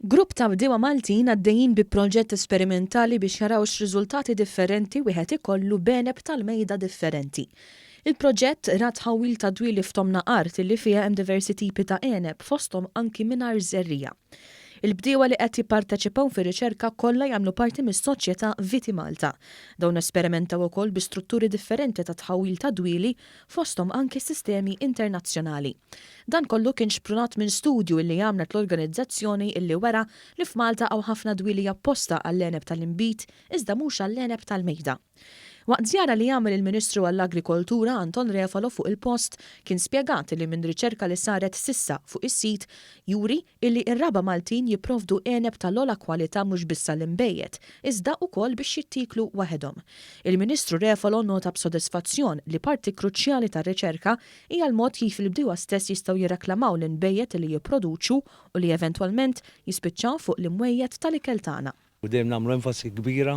Grupp ta' bdiewa Maltin għaddejjin bi proġett esperimentali biex jaraw x'riżultati differenti wieħed ikollu b'għeneb tal-mejda differenti. Il-proġett ra tħawwil ta' dwieli f'tomna art li fiha hemm diversi tipi ta' għeneb fosthom anki mingħajr żerriegħa. Il-bdiewa li qed jipparteċipaw fir-riċerka kollha jagħmlu parti mis-soċjetà Viti Malta. Dawn esperimentaw ukoll bi strutturi differenti ta' tħawwil ta' dwieli fosthom anki sistemi internazzjonali. Dan kollu kien xprunat minn studju illi għamlet l-organizzazzjoni illi wera li f'Malta hawn ħafna dwieli apposta għall-għeneb tal-inbid iżda mhux għall-għeneb tal-mejda. Waqt żjara li għamel il-Ministru għall-Agrikoltura Anton Refalo fuq il-post kien spjegat illi minn riċerka li saret s'issa fuq is-sit juri illi ir-raba' Maltin jipprovdu għeneb tal-ogħla kwalità mhux biss għall-inbejjed, iżda ukoll biex jittieklu waħedhom. Il-Ministru Refalo nnota b'sodisfazzjon li parti kruċjali tar-riċerka hija l-mod kif il-bdiewa stess jistgħu jirreklamaw l-inbejjed li jipproduċu u li eventwalment jispiċċaw fuq l-imwejjed tal-ikel tagħna. u dejjem nagħmlu enfasi kbira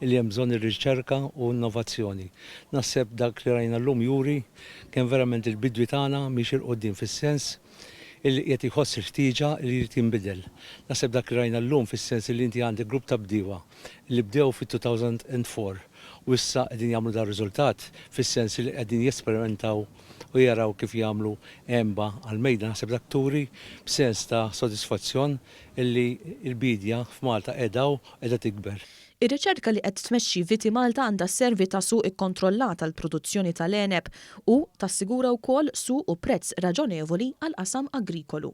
li hemm bżonn ir-riċerka u innovazzjoni. Naħseb dak li rajna llum juri kemm verament il-bidwi tagħna miexi 'l quddiem fis-sens illi qiegħed iħoss il-ħtieġa li jrid jinbidel. Naħseb dak li rajna llum fis-sens illi inti għandek grupp ta' bdiewa li bdew fit-2004 u issa qegħdin jagħmlu dar-riżultat fis-sens illi qegħdin jesperimentaw u jaraw kif jagħmlu għenba għall-mejda naħseb dak turi b'sens ta' sodisfazzjon illi l-biedja f'Malta qiegħda u qiegħda tikber. Ir-riċerka li qed tmexxi Vitimalta għandha sservi ta' suq ikkontrollat għall-produzzjoni tal-għeneb u tassigura wkoll suq u prezz raġonevoli għall-qasam agrikolu.